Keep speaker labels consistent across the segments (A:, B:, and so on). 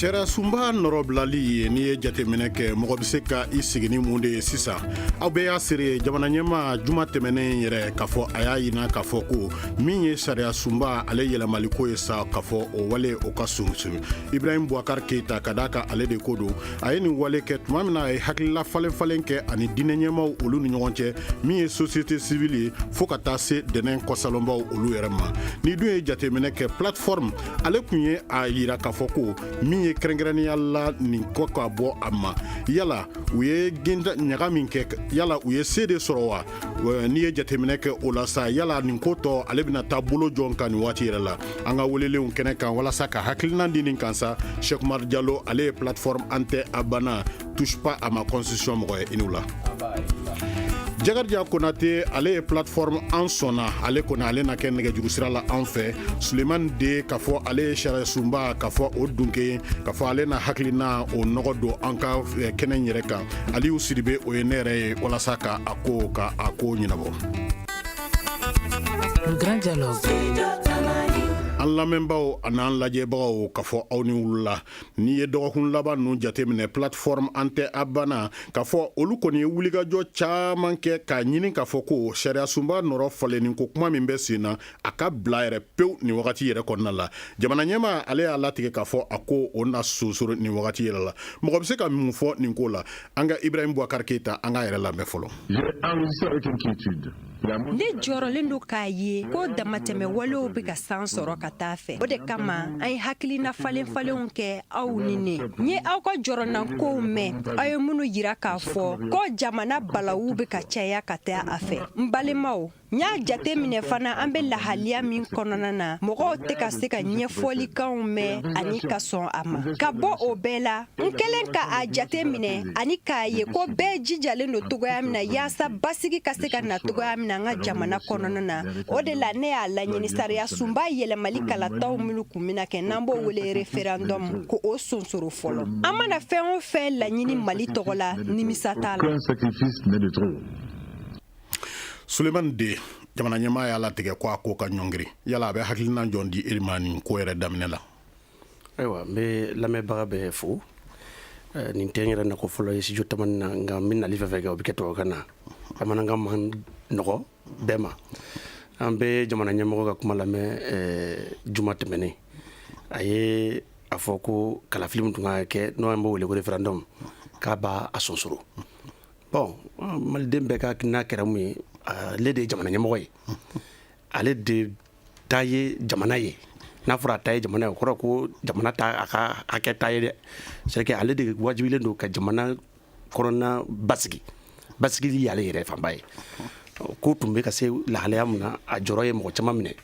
A: Sariyasunba nɔrɔbilali ye n'i ye jateminɛ kɛ mɔgɔ bɛ se ka i sigi ni mun de ye sisan aw bɛɛ y'a seere ye jamana ɲɛmaa juma tɛmɛnen yɛrɛ k'a fɔ a y'a yira k'a fɔ ko min ye sariyasunba ale yɛlɛmali ko ye sa k'a fɔ o wale o ka sonsoro Ibrahim Bubakari Keyita ka d'a kan ale de ko don a ye nin wale kɛ tuma min na a ye hakilila falen falen kɛ ani diinɛ ɲɛmaw olu ni ɲɔgɔn cɛ min ye société civile ye fo ka taa se dɛmɛ kɔsalonbaw olu yɛrɛ ma n'i dun ye jateminɛ kɛ plateforme ale kun ye a yira k'a fɔ ko min ye kɛrɛnkɛrɛnnenya la nin ko ka bɔ a ma yala u ye ɲaga min kɛ yala u ye se de sɔrɔ wa n'i ye jateminɛ kɛ o la sa yala nin ko tɔ ale bɛna taa bolo jɔn kan nin waati yɛrɛ la an ka welelenw kɛnɛ kan walasa ka hakilinan di nin kan sa Sɛki Umar Jalo ale ye plateforme an tɛ a banna touche pas à ma constitution mɔgɔ ye i ni wula Jakarija Konate ale ye plateforme an sɔnna ale kɔni ale na kɛ nɛgɛjuru sira la an fɛ Sulemani De k'a fɔ ale ye sariyasunba k'a fɔ o dunke k'a fɔ ale na hakilina o nɔgɔ don an ka eh, kɛnɛ in yɛrɛ kan Aliyu Sidibe o ye ne yɛrɛ ye walasa ka a ko ka a ko ɲɛnabɔ.
B: Le grand dialogue.
A: an lamɛnbaaw an'an lajɛbagaw k'a fɔ aw ni wula n'i ye dɔgɔkun laban ninnu jateminɛ plateforme an tɛ a banna k'a fɔ olu kɔni ye wulikajɔ caman kɛ k'a ɲini k'a fɔ ko sariyasunba nɔrɔ falenni ko kuma min bɛ sen na a ka bila yɛrɛ pewu nin wagati yɛrɛ kɔnɔna la jamana ɲɛmaa ale y'a latigɛ k'a fɔ a ko o na sonsoro nin wagati yɛrɛ la mɔgɔ bɛ se ka mun fɔ nin ko la an ka Ibrahim Bubakari Keyita an k'a yɛrɛ lamɛn fɔlɔ
C: Ne jɔrɔlen don k'a ye ko damatɛmɛ walew bɛ ka san sɔrɔ ka taa a fɛ o de kama an ye hakilina falenfalenw kɛ aw ni ne n ye aw ka jɔrɔnankow mɛn aw ye minnu yira k'a fɔ ko jamana balawu bɛ ka caya ka taa a fɛ n balimaw n y'a jate minɛ fana an bɛ lahalaya min kɔnɔna na mɔgɔw tɛ ka se ka ɲɛfɔlikanw mɛn ani ka sɔn a ma ka bɔ o bɛɛ la N kɛlen ka a jate minɛ ani k'a ye ko bɛɛ jijalen don cogoya min na yaasa basigi ka se ka na cogoya min na an ka jamana kɔnɔna na o de la ne y'a laɲini sariyasunba yɛlɛmali kalataw minnu kun bɛna kɛ n'an b'o wele référendum ko o sonsoro fɔlɔ an mana fɛn o fɛn laɲini Mali tɔgɔ la nimisa t'a
A: la. Sulemani De jamana ɲɛmaa y'a latigɛ ko a ko ka ɲɔngiri yala a bɛ hakilinan jɔn di i yɛrɛ ma nin ko yɛrɛ daminɛ la ayiwa
D: n bɛ lamɛnbaga bɛɛ fo nin tɛ n yɛrɛ nako fɔlɔ ye studio tamani na nka n bɛ nali fɛn o fɛn kɛ o bɛ kɛ tubabukan na bamanankan man nɔgɔ bɛɛ ma an bɛ jamana ɲɛmɔgɔ ka kuma lamɛn juma tɛmɛnen a ye a fɔ ko kalafili min tun ka kɛ n'o an b'o wele ko referendum k'a b'a sonsoro bon maliden bɛɛ ka n'a kɛra mun ye ale de ye jamana ɲɛmɔgɔ ye ale de ta ye jamana ye n'a fɔra a ta ye jamana ye o kɔrɔ ko jamana t'a ka hakɛ ta ye dɛ c'est que ale de wajibilen don ka jamana kɔnɔna basigi basigili y'ale yɛrɛ fanba ye ko tun bɛ ka se lahalaya min na a jɔrɔ ye mɔgɔ caman minɛ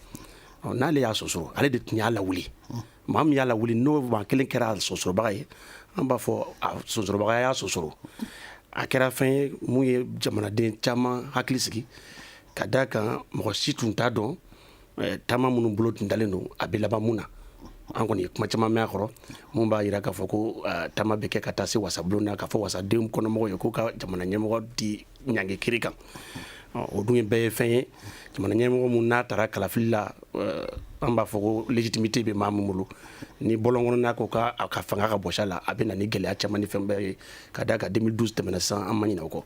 D: n'ale y'a sonsoro ale de tun y'a lawuli maa min y'a lawuli n'o maa kelen kɛra a sonsorobaga ye an b'a fɔ a sonsorobaga y'a sonsoro a kɛra fɛn ye mun ye jamanaden caman hakili sigi ka da kan mɔgɔ si tun t'a dɔn taama minnu bolo tun dalen don a bɛ laban mun na an kɔni ye kuma caman mɛn a kɔrɔ min b'a yira k'a fɔ ko taama bɛ kɛ ka taa se wasabulon na k'a fɔ wasadenw kɔnɔmɔgɔw ye k'u ka jamana ɲɛmɔgɔ di ɲangi kiri kan o dun ye bɛɛ ye fɛn ye jamana ɲɛmɔgɔ min n'a taara kalafili la an b'a fɔ ko légitimité bɛ maa min bolo ni bɔlɔn kɔnɔna ko a ka fanga ka bɔsi a la a bɛ na ni gɛlɛya caman ni fɛn bɛɛ ye ka da kan deux mille douze tɛmɛna san an ma ɲinɛ o kɔ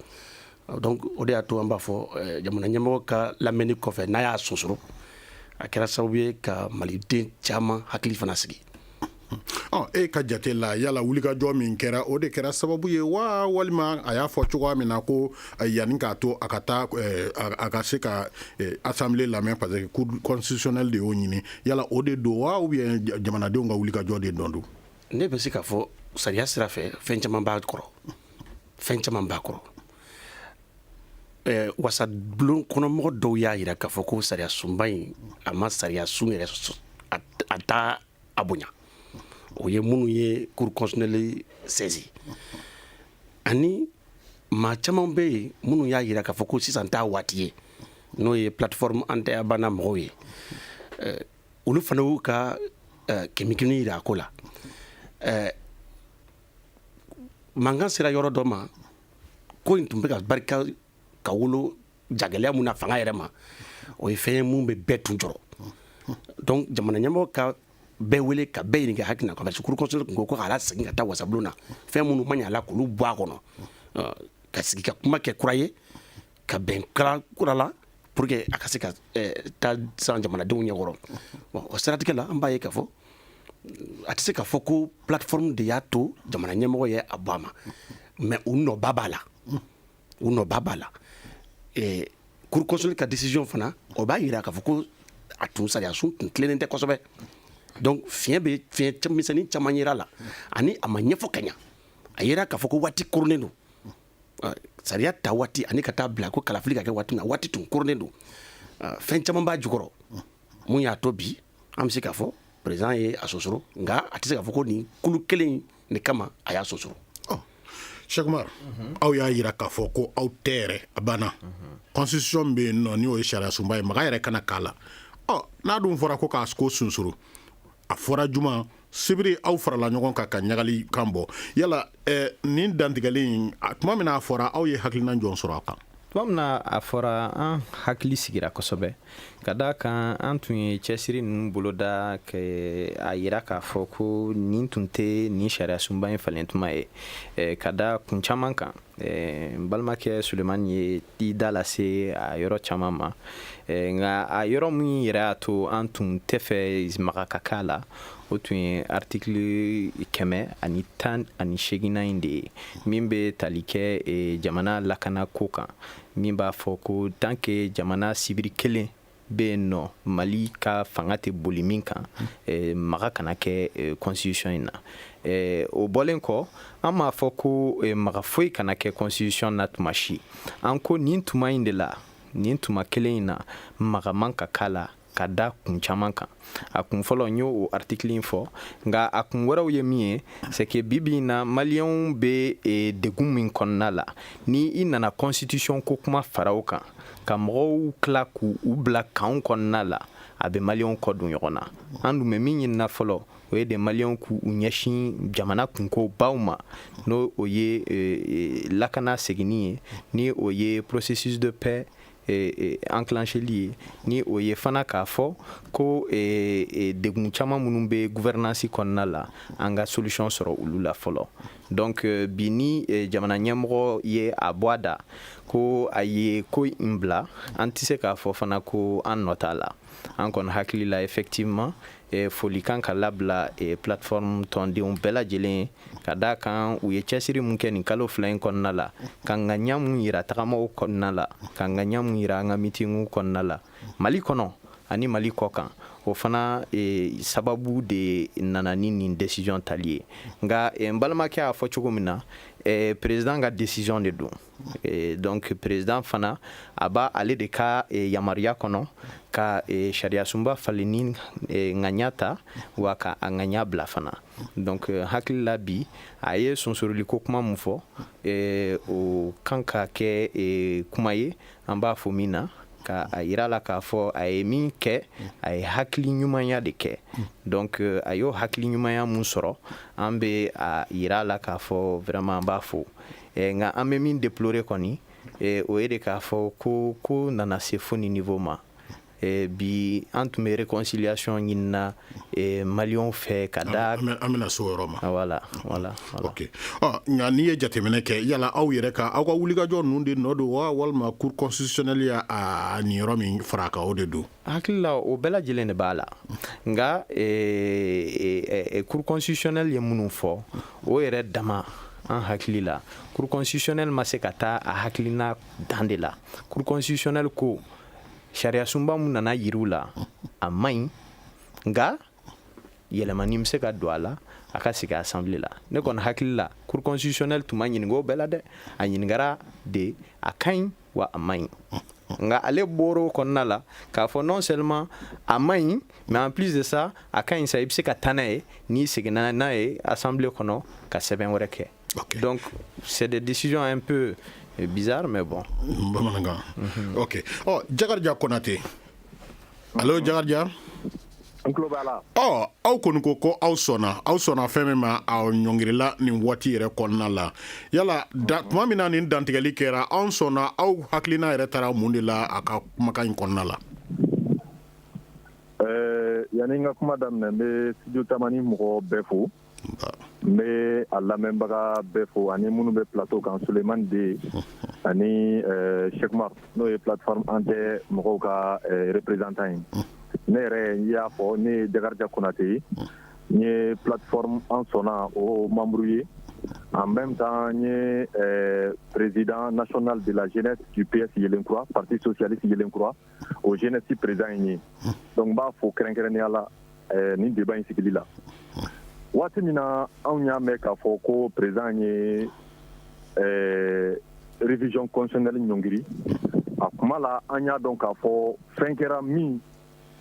D: donc o de y'a to an b'a fɔ jamana ɲɛmɔgɔ ka lamɛnni kɔfɛ n'a y'a sonsoro a kɛra sababu ye ka maliden caman hakili fana sigi
A: E ka jate la yala wulikajɔ min kɛra o de kɛra sababu ye wa walima a y'a fɔ cogoya min na ko yanni k'a to a ka taa a ka se ka assemblée lamɛn parce que cour constitutionnelle de y'o ɲini yala o de don wa ou bien jamanadenw ka wulikajɔ de dɔn don ne bɛ se k'a fɔ
D: sariya sira fɛ fɛn caman b'a kɔrɔ fɛn caman b'a kɔrɔ Ɛɛ wasabulon kɔnɔmɔgɔ dɔw y'a yira k'a fɔ ko sariya sunba in a ma sariya sun yɛrɛ a t'a a bonya unhun o ye minnu ye cour constitutionnelle saisi unhun ani maa caman bɛ yen minnu y'a yira k'a fɔ ko sisan t'a waati ye unhun n'o ye plateforme an tɛ a banna mɔgɔw ye unhun ɛ olu fana y'u ka ɛ kemikini yira a ko la unhun ɛɛ mankan sera yɔrɔ dɔ ma unhun ko in tun bɛ ka barika ka wolo jagɛlɛya mun na fanga yɛrɛ ma o ye fɛn ye mun bɛ bɛɛ tun jɔrɔ donc jamana ɲɛmɔgɔ ka bɛɛ wele ka bɛɛ ɲininka hakilina parce que cour constitutionnelle tun ko ko k'a lasegin ka taa wasabulon na fɛn minnu ma ɲɛ a la k'olu bɔ a kɔnɔ ka sigi ka kuma kɛ kura ye ka bɛn kan kura la pour que a ka se ka eh, taa san jamanadenw ɲɛkɔrɔ bon o siratigɛ la an b'a ye k'a fɔ a tɛ se k'a fɔ ko plateforme de y'a to jamana ɲɛmɔgɔ ye a bɔ a ma mais u nɔba b'a la u nɔba b'a la eh, cour constitutionnelle ka décision fana o b'a yira k'a fɔ ko a tun sariyasun tun tilennen tɛ kosɛbɛ donc fiɲɛ bɛ fiɲɛ misɛnnin caman yera a la ani a ma ɲɛfɔ ka ɲa a yera k'a fɔ ko waati koronnen don sariya ta waati ani ka taa bila ko kalafili ka kɛ waati min na waati tun koronnen don fɛn caman b'a jukɔrɔ mun y'a to bi an bɛ se k'a fɔ président ye a sonsoro nka a tɛ se k'a fɔ ko nin kulu kelen de kama a y'a
A: sonsoro Cheikh Oumar aw y'a yira k'a fɔ ko aw tɛ yɛrɛ a banna constitution bɛ yen nɔ n'o ye sariya sunba ye maga yɛrɛ kana k'a la n'a dun fɔra ko k'a ko sonsoro a fɔra juma sibiri aw farala ɲɔgɔn kan ka ɲagali kan bɔ yala nin dantigɛli in tuma min na a fɔra aw ye hakilina jɔn sɔrɔ a kan tuma min na a
E: fɔra an hakili sigira kosɛbɛ ka da kan an tun ye cɛsiri ninnu boloda a yira k'a fɔ ko nin tun tɛ nin sariya sunba in falen tuma ye ka da kun caman kan Eh, n balimakɛ sulemani ye i da lase a yɔrɔ caman ma eh, nka a yɔrɔ min yɛrɛ y'a to an tun tɛ fɛ maga ka k'a la o tun ye artikili kɛmɛ ani tan ani seginnan in de ye min bɛ tali kɛ eh, jamana lakana ko kan min b'a fɔ ko tant que jamana sibiri kelen bɛ yen nɔ mali ka fanga tɛ boli min kan eh, maga kana kɛ eh, constitution in na eh, o bɔlen kɔ an m'a fɔ ko maga foyi kana kɛ constitution na tuma si an ko nin tuma in de la nin tuma kelen in na maga man ka k'a la ka da kun caman kan a kun fɔlɔ n y'o o artikili in fɔ nka a kun wɛrɛw ye min ye c'est que bibi in na maliyɛnw bɛ e, degun min kɔnɔna la ni i nana constitution ko kuma fara o kan ka mɔgɔw tila k'u bila kanw kɔnɔna la a bɛ maliyɛnw kɔ don ɲɔgɔn na an dun bɛ min ɲinina fɔlɔ o ye de maliyɛnw k'u ɲɛsin jamana kunko baw ma n'o o ye e, e, lakana seginni ye ni o ye processus de paix enclencheli ye ni o ye fana k'a fɔ ko degun caman minnu bɛ gouvernance kɔnɔna la an ka solution sɔrɔ olu la fɔlɔ donc bi ni jamana ɲɛmɔgɔ ye a bɔ a da ko a ye ko in bila an tɛ se k'a fɔ fana ko an nɔ t'a la an kɔni hakili la effectivement eh, foli kan ka labila eh, plateforme tɔndenw bɛɛ lajɛlen ka da kan u ye cɛsiri mun kɛ nin kalo fila in kɔnɔna la ka ŋaniya mun yira tagamaw kɔnɔna la ka ŋaniya mun yira an ka mitingiw kɔnɔna la mali kɔnɔ ani mali kɔ kan o fana e, sababu de nana ni nin decision tali ye nka e, n balimakɛ y'a fɔ cogo min na e, president ka decision de don Eh, donc président fana a b'a ale de ka eh, yamaruya kɔnɔ ka eh, sariyasunba falenni ŋaniya ta wa ka a ŋaniya bila fana donc hakili la bi a ye sonsoroli ko kuma min fɔ o kan ka kɛ kuma ye an b'a fɔ min na ka a yira a la k'a fɔ a ye min kɛ a ye hakili ɲumanya de kɛ donc a y'o hakili ɲumanya mun sɔrɔ an bɛ a yira a la k'a fɔ vraiment an b'a fo Eh, nka an bɛ min deplore kɔni eh, o ye de k'a fɔ ko ko nana se fo ni niveau ma eh, bi an tun bɛ réconciliation ɲinina maliyɛnw fɛ ka da an bɛna so yɔrɔ ma
A: voilà voilà
E: ok
A: ɔ nka n'i ye jateminɛ kɛ yala aw yɛrɛ ka aw ka wulikajɔ ninnu de nɔ don wa walima cour constitutionnelle y'a a niyɔrɔ min fara a kan o de don hakili la o
E: bɛɛ lajɛlen de b'a la nka e, e, e, e cour constitutionnelle ye minnu fɔ o yɛrɛ dama an hakili la cour constitutionnelle ma se ka taa a hakilina dan de la cour constitutionnelle ko sariyasunba mun nana yir'u la a man ɲi nka yɛlɛmani bɛ se ka don a la a ka segin assemblée la ne kɔni hakili la cour constitutionnelle tun ma ɲininka o bɛɛ la dɛ a ɲininkara de a ka ɲi wa a man ɲi nka ale bɔr'o kɔnɔna la k'a fɔ non seulement a man ɲi mais en plus de ça a ka ɲi sa i bɛ se ka taa n'a ye n'i seginna n'a ye assemblée kɔnɔ ka sɛbɛn wɛrɛ kɛ Donc, c'est des décisions un peu bizarres, mais bon.
A: Mhm. Ok. Oh, Jakarija Konate. Allô, Jakarija n tulo b'a la ɔ aw kɔni ko ko aw sɔnna aw sɔnna fɛn min ma a ɲɔngirila nin waati yɛrɛ kɔnɔna la yala da tuma min na nin dantigɛli kɛra an sɔnna aw hakilina yɛrɛ taara mun de la a ka kumakan in kɔnɔna la
F: yanni n ka kuma daminɛ n bɛ studio tamani mɔgɔ bɛɛ fo n bɛ a lamɛnbaga bɛɛ fo ani minnu bɛ plateau kan Sulemani De ani Sɛkumaru n'o ye plateforme an tɛ mɔgɔw ka représentant ye ne yɛrɛ n y'a fɔ ne ye Jakarija Konate ye n ye plateforme an sɔnna o membre ye en même temps n ye président national de la jeunesse du PS yelenkura parti socialiste yelenkura o jeunesse président in ye donc n b'a fo kɛrɛnkɛrɛnnenya la nin débat in sigili la waati min na anw y'a mɛn k'a fɔ ko président ye révision constitutionnelle ɲɔngiri a kuma la an y'a dɔn k'a fɔ fɛn kɛra min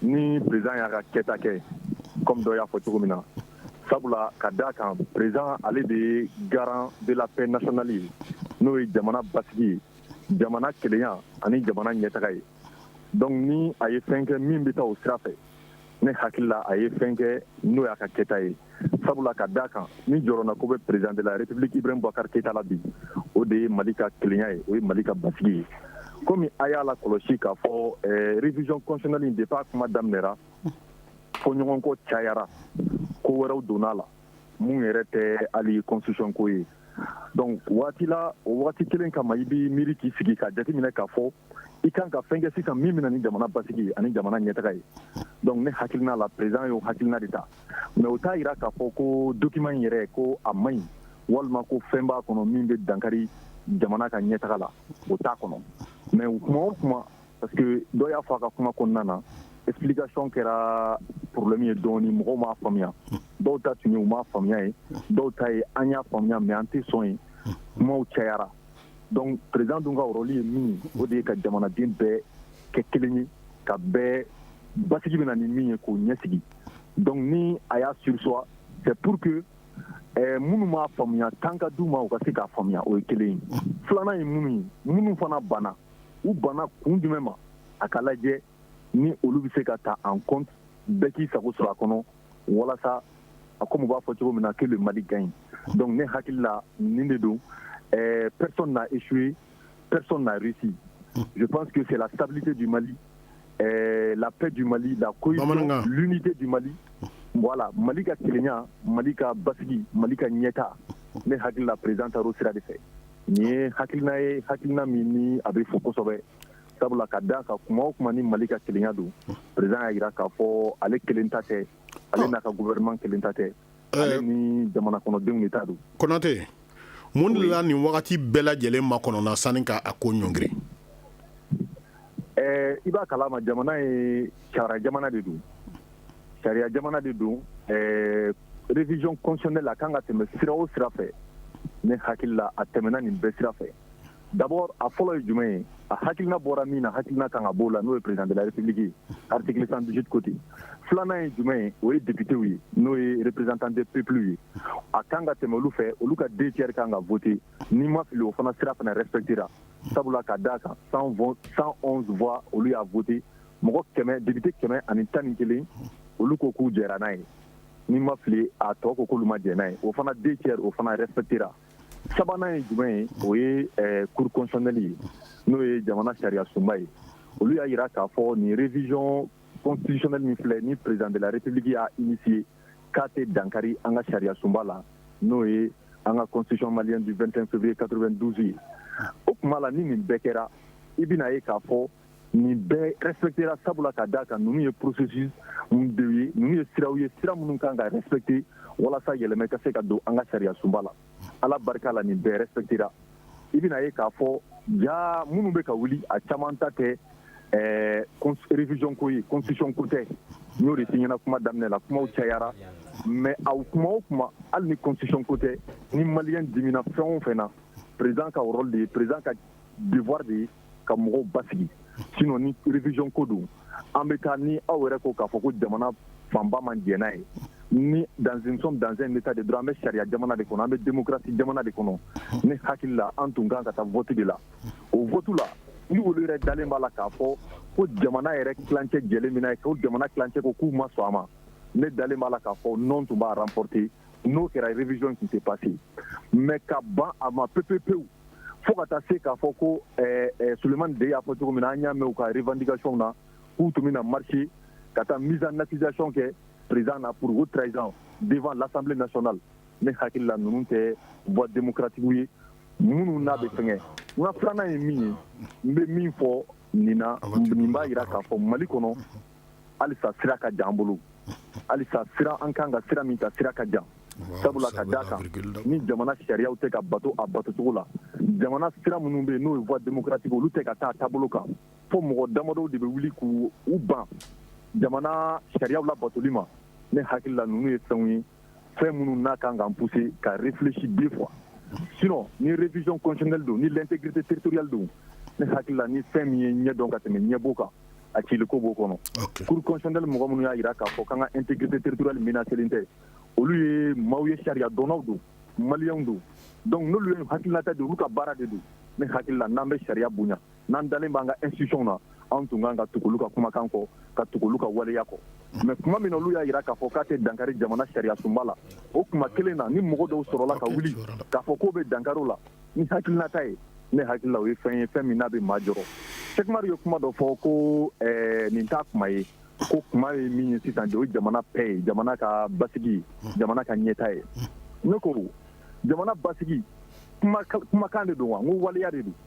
F: ni président y'a ka kɛta kɛ kɔmi dɔ y'a fɔ cogo min na sabula ka d'a kan président ale de ye garant de la paix nationale ye n'o ye jamana basigi ye jamana kelenya ani jamana ɲɛtaga ye donc ni a ye fɛn kɛ min bɛ taa o sira fɛ ne hakili la a ye fɛn kɛ n'o y'a ka kɛta ye sabula ka d'a kan ni jɔrɔnanko bɛ président de la république ibrahim boubacar keyita la bi o de ye mali ka kelenya ye o ye mali ka basigi ye komi a y'a lakɔlɔsi k'a fɔ eh, révision constitutionnelle in depuis a kuma daminɛra fɔɲɔgɔnkɔ cayara ko wɛrɛw donna la mun yɛrɛ tɛ hali constitution ko ye donc waati la o waati kelen kama i b'i miiri k'i sigi ka jateminɛ k'a fɔ i kan ka fɛn kɛ sisan min bɛna ni jamana basigi ani jamana ɲɛtaa ye donc ne hakilina la président y'o hakilina de ta mais o t'a jira k'a fɔ ko document in yɛrɛ ko a man ɲi walima ko fɛn b'a kɔnɔ min bɛ dankari jamana ka ɲɛtaga la o t'a kɔnɔ mais o kuma o kuma Parce que dɔ y'a fɔ a ka kuma kɔnɔna na explication kɛra problème ye dɔɔni mɔgɔw m'a faamuya, dɔw ta tun ye u m'a faamuya ye, dɔw ta ye an y'a faamuya mais an tɛ sɔn ye, kumaw cayara donc président dun ka rôle ye min ye o de ye ka jamanaden bɛɛ kɛ kelen ye ka bɛɛ basigi bɛna ni min ye k'o ɲɛsigi donc ni a y'a surseoir c'est pour que ɛɛ minnu m'a faamuya temps ka d'u ma u ka se k'a faamuya o ye kelen ye filanan ye minnu ye minnu fana banna u banna kun jumɛn ma a ka lajɛ ni olu bɛ se ka ta an kɔn bɛɛ k'i sago sɔrɔ a kɔnɔ walasa a ko b'a fɔ cogo min na k'olu mali gan ɲi dɔnku ne hakili la nin de don ɛɛ pɛre na isu ye pɛre narisi u pan que fɛ tabite di mali ɛɛ lap di mali la ko tɛ di mali wala mali ka tiɲɛya mali ka basi mali ka ɲɛta ne hakilila preztaro sira de fɛ Nin ye hakilina ye hakilina min ni a bɛ fo kosɛbɛ sabula ka d'a kan kuma o kuma ni mali ka kelenya don président y'a jira k'a fɔ ale kelen ta tɛ ale n'a ka gouvernement kelen ta tɛ ale ni jamana kɔnɔdenw de ta don
A: Konate mun de la nin wagati bɛɛ lajɛlen makɔnɔna sani k'a ko ɲɔngiri
F: Ɛɛ i b'a kalama jamana ye sariya jamana de don sariya jamana de don révision constitutionnelle a ka kan ka tɛmɛ sira o sira fɛ ne hakili la a tɛmɛna nin bɛɛ sira fɛ d'abord a fɔlɔ ye jumɛn ye a hakilina bɔra min na hakilina kan ka b'o la n'o ye président de la république ye article 118 côté filanan ye jumɛn ye o ye députéw ye n'o ye représentant des peuples ye a kan ka tɛmɛ olu fɛ olu ka deux tiers kan ka voter n'i ma fili o fana sira fana respectera sabula ka d'a kan 111 voix olu y'a voter mɔgɔ 100, député 111 olu ko k'u jɛra n'a ye n'i ma fili a tɔ ko k'olu ma jɛn n'a ye o fana deux tiers o fana respectera sabanan ye jumɛn ye o ye eh, cour constitutionnelle ye n'o ye jamana sariya sunba ye olu y'a jira k'a fɔ nin révision constitutionnelle min filɛ ni président de la république y'a initier k'a tɛ dankari an ka sariya sunba la n'o ye an ka constitution malienne du 25 février 92 ye o kuma la ni nin bɛɛ kɛra i bɛna ye k'a fɔ nin bɛɛ respectera sabula ka d'a kan ninnu ye processusw de ye ninnu ye siraw ye sira minnu kan ka respecter walasa yɛlɛma ka se ka don an ka sariya sunba la ala barika la nin bɛɛ respectera i bɛna ye k'a fɔ ja minnu bɛ ka wuli a caman ta tɛ ɛɛ révision ko ye constitution ko tɛ n y'o de f'i ɲɛna kuma daminɛ la kumaw cayara mais aw kuma o kuma hali ni constitution ko tɛ ni maliyɛn dimina fɛn o fɛn na président ka rôle de ye président ka devoir de ye ka mɔgɔw basigi sinon ni révision ko don an bɛ taa ni aw yɛrɛ ko k'a fɔ ko jamana fanba ma jɛn n'a ye ni nous sommes dans un état de droit an bɛ sariya jamana de kɔnɔ an bɛ démocratie jamana de kɔnɔ ne hakili la an tun ka kan ka taa vote de la o vote la ni olu yɛrɛ dalen b'a la k'a fɔ ko jamana yɛrɛ tilancɛ jɛlen bɛ n'a ye ko jamana tilancɛ ko k'u ma sɔn a ma ne dalen b'a la k'a fɔ non tun b'a remporter n'o kɛra révision tun tɛ passer mais ka ban a ma pepepewu fo ka taa se k'a fɔ ko ɛɛ ɛɛ Sulemani De y'a fɔ cogo min na an y'a mɛn u ka revendication na k'u tun bɛna marcher ka taa mise en accusation kɛ président na pour haute trahison devant l'Assemblée nationale ne hakili la ninnu tɛ voie démocratique ye minnu n'a bɛ fɛngɛ n ka filanan ye min ye n bɛ min fɔ nin na nin b'a jira k'a fɔ mali kɔnɔ halisa sira ka jan an bolo halisa sira an kan ka sira min ta sira ka jan sabula ka d'a kan ni jamana sariyaw tɛ ka bato a batocogo la jamana sira minnu bɛ yen n'o ye voie démocratique olu tɛ ka taa taabolo kan fo mɔgɔ damadɔw de bɛ wuli k'u ban jamana sariyaw labatoli ma ne hakilila ninnu ye fɛnw ye fɛn minnu n'a kan k'an pousser ka réfléchir deux fois sinon ni révision constitutionnelle don ni l'intégrité territoriale don ne hakili la ni fɛn min ye ɲɛ dɔn ka tɛmɛ ɲɛbo kan a ciliko b'o kɔnɔ cour constitutionnelle mɔgɔ minnu y'a jira k'a fɔ k'an ka intégrité territoriale menacelen tɛ olu ye maaw ye sariya dɔnnaw don maliyɛnw don donc n'olu ye hakilinata di olu ka baara de don ne hakili la n'an bɛ sariya bonya n'an dalen b'an ka institutions na anw tun kan ka tugu olu ka kumakan kɔ ka tugu olu ka waleya kɔ mais tuma min na olu y'a jira k'a fɔ k'a tɛ dankari jamana sariyasunba la o tuma kelen na ni mɔgɔ dɔw sɔrɔla ka wuli k'a fɔ k'o bɛ dankari o la ni hakilinata ye ne hakili la o ye fɛn ye fɛn min n'a bɛ maa jɔrɔ Sɛki Umaru ye kuma dɔ fɔ ko eh, nin t'a kuma ye ko kuma ye min ye sisan de o ye jamana paix ye jamana ka basigi jamana ka ɲɛtaa ye ne ko jamana basigi kumakan de don wa n ko waleya de don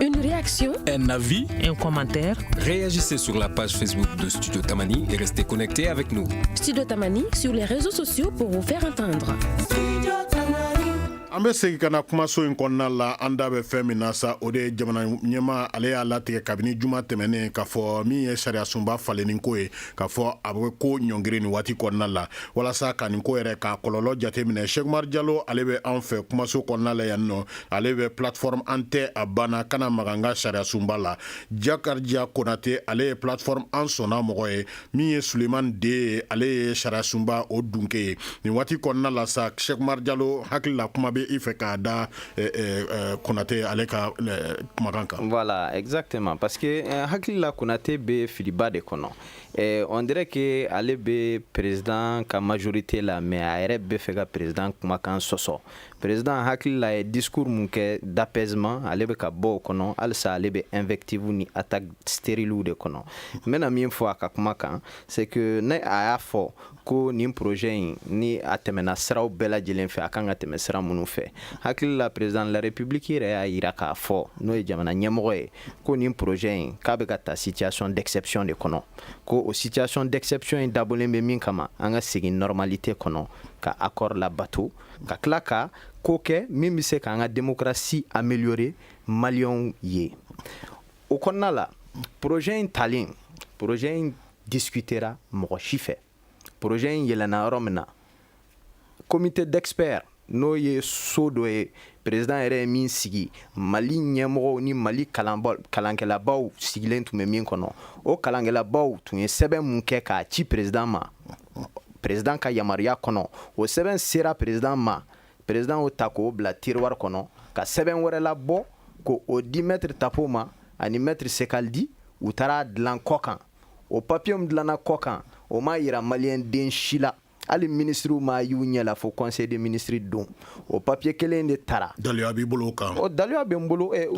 B: Une réaction, un avis,
G: un
B: commentaire. Réagissez sur
G: la page Facebook de Studio Tamani et restez connectés avec nous. Studio Tamani
B: sur les réseaux sociaux pour vous faire
A: entendre. an bɛ segin ka na kumaso in kɔnɔna la an da bɛ fɛn min na sa o de ye jamana ɲɛmaa ale y'a latigɛ kabini juma tɛmɛnen k'a fɔ min ye sariyasunba falenni ko ye k'a fɔ a bɛ ko ɲɔngiri nin waati kɔnɔna la walasa ka nin ko yɛrɛ k'a kɔlɔlɔ jateminɛ Sɛki Umaru Jalo ale bɛ an fɛ kumaso kɔnɔna la yan nɔ ale bɛ plateforme an tɛ a banna kana maga n ka sariya sunba la Jakarija Konate ale ye plateforme an sɔnna mɔgɔ ye min ye Sulemani De ye ale ye sariya sunba o dunke ye nin waati kɔnɔna la sa Sɛki Umaru Jalo hakilila kuma bɛ i fɛ k'a da konate ale ka kumakan kan voilà
E: exactement parce que hakili la konate bɛ filiba de kɔnɔ on dirait que ale bɛ président ka majorité la mais a yɛrɛ bɛ fɛ ka président kumakan sɔsɔ président hakili la ye discours mun kɛ d'apaisement ale bɛ ka bɔ o kɔnɔ halisa ale bɛ invective ni attaque stérilew de kɔnɔ n bɛna min fɔ a ka kuma kan c'est que ne a y'a fɔ ko nin projet in ni a tɛmɛna siraw bɛɛ lajɛlen fɛ a kan ka tɛmɛ sira minnu fɛ hakili la président de la république yɛrɛ y'a yira k'a fɔ n'o ye jamana ɲɛmɔgɔ ye ko nin projet in k'a bɛ ka ta situation d'exception de kɔnɔ ko o situation d'exception in dabɔlen bɛ min kama an ka segin normalité kɔnɔ ka accord labato ka tila ka ko kɛ min bɛ se k'an ka démocratie améliorer maliyɛnw ye o kɔnɔna la projet in talen projet in discutera mɔgɔ si fɛ projet in yɛlɛnna yɔrɔ min na comité d'experts n'o ye so dɔ ye président yɛrɛ ye min sigi mali ɲɛmɔgɔw ni mali kalankɛlabaw sigilen tun bɛ min kɔnɔ o kalankɛlabaw tun ye sɛbɛn mun kɛ k'a ci président ma président ka yamaruya kɔnɔ o sɛbɛn sera président ma président y'o ta k'o bila tiroir kɔnɔ ka sɛbɛn wɛrɛ labɔ k'o di maître tapo ma ani maître ceccaldi u taara a dilan kɔkan o papiye min dilanna kɔkan o ma yira maliyɛn den si la hali minisiriw m'a y'u ɲɛ la fo conseil de ministre don o papiye kelen de taara daliya b'i bolo o
A: kan o daliya bɛ n
E: bolo eh,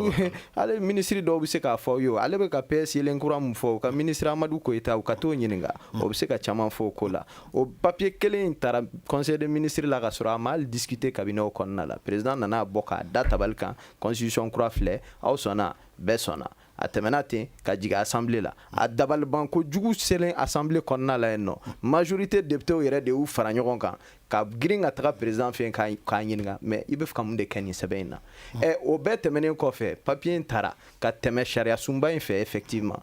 E: hali minisiri dɔw bɛ se k'a fɔ yo ale bɛ ka ps yeelen kura min fɔ u ka minisiri amadu koyita u ka t'o ɲininka o bɛ se ka caman fɔ o ko la o papiye kelen in taara conseil de ministre la ka sɔrɔ a ma hali discuter cabinetw kɔnɔna la président nana a bɔ k'a da tabali kan constitution kura filɛ aw sɔnna bɛɛ sɔnna a tɛmɛna ten ka jigin assemblée la a dabaliban ko jugu selen assemblée kɔnɔna la yen nɔ majorité députéw yɛrɛ de y'u fara ɲɔgɔn kan ka girin ka taga président fɛ k'a ɲininka mais i bɛ fɛ ka mun de kɛ nin sɛbɛn in na ɛ o bɛɛ tɛmɛnen kɔfɛ papier in taara ka tɛmɛ sariya sunba in fɛ effectivement